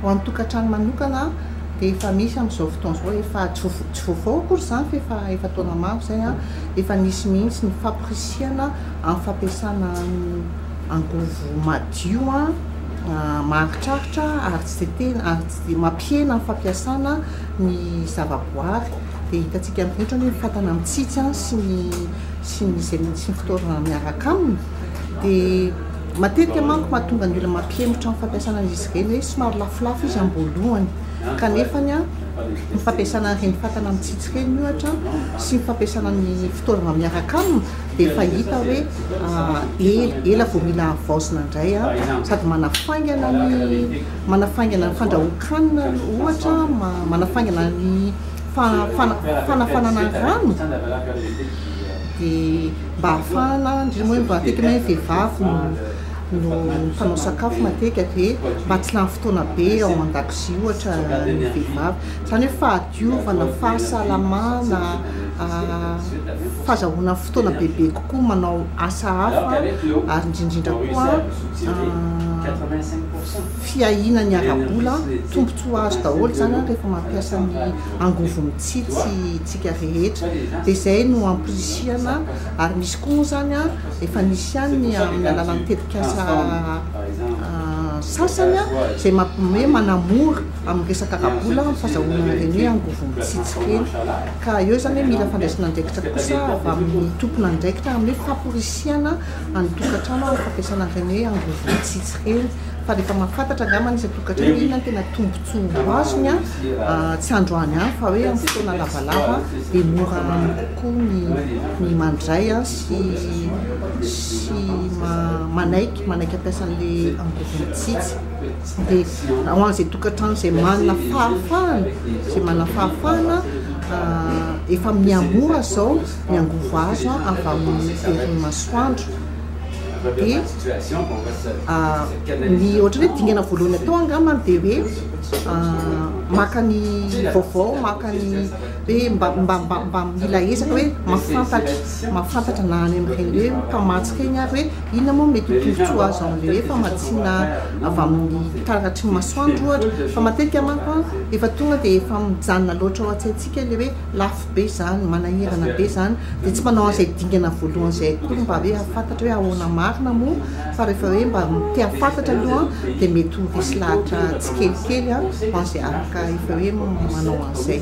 Ho an'ny tokantrano manokana dia efa misy amin'izao fotoana izao, efa tsy vaovao akory izany fa efa efa taona maro izay, efa nisy mihitsy ny famporisihana amin'ny fampiasana angovo madio maharitraritra ary tsy dia tena ary tsy dia mampihena ny fampiasana ny zavaboary dia hitantsika amin'izay ohatra ny hoe ny fatana mitsitsy sy ny sy ny izay mihitsy ny fitaovana miaraka aminy dia matetika manko mahatonga ny olona mampihemotra ny fampiasana an'izy ireny hoe somary lafolafo izy am-boalohany kanefa ny ny fampiasana an'ireny fatana mitsitsy ireny ohatra sy ny fampiasana ny fitaovana miaraka aminy dia efa hita hoe ela ela vao mila havaozina indray sady manafaingana ny manafaingana ny fandrahoan-kanina ohatra manafaingana ny fanafanana rano dia mba hahafahana indrindra moa mba matetika hoe vehivavy no mpanao sakafo matetika dia mba tsy lany fotoana be ao an-dakozia ohatra ny vehivavy, izany hoe fahadiovana, fahasalamana, fahazahoana fotoana bebe kokoa manao asa hafa ary indrindra indrindra koa fiahiana ny ara-bola, tombontsoa azo daholo izany an rehefa mampiasa ny angovo mitsiry sy tsika rehetra dia izay no amporisihana ary misy koa moa izany an efa nisy ihany ny amin'ny alalan'ny tetikasa sasany an izay hoe manamora amin'ny resaka ara-bola ny fazahoana ireny hoe angovo mitsitsy ireny ka eo izany hoe mila fandraisana andraikitra kosa avy amin'ny tompon'andraikitra amin'ny hoe famporisihana any tokantrano amin'ny fampiasana ireny hoe angovo mitsitsy ireny. fa rehefa mahafantatra angamba ny isan-tokantrano hoe inona no tena tombontsoa ho azony an, tsy androany an, fa hoe amin'ny fotoana lavalava dia mora aminy kokoa ny ny mandray an sy sy ma manaiky manaiky hampiasa an'ilay angôvo mitsitsy. Dia ho an'izay tokantrano izay manana fahafahana, izay manana fahafahana an, efa miha-mora izao ny angôvo azo an avy amin'ny herin'ny masoandro. dia ny ohatran'ny hoe dingana voalohany atao angamba dia hoe maka ny vaovao, maka ny hoe mba mba mba mila ezaka hoe mahafantatra, mahafantatra na any amin'ireny hoe mpamatsy ireny ary hoe inona moa no mety ho tombotsoa azo amin'ilay hoe famatsiana avy amin'ny taratry ny masoandro ohatra, fa matetika manko an, efa tonga dia efa mijanona loatra ao an-tsaintsika ilay hoe. lafo be zany, manahirana be zany, dia tsy manao an'izay dingana voalohany izay akory mba hoe hahafantatra hoe ahoana marina moa fa rehefa hoe mba te hahafantatra aloha dia mety ho resy lahatra tsikelikely ho an'izay afaka efa hoe manao an'izay.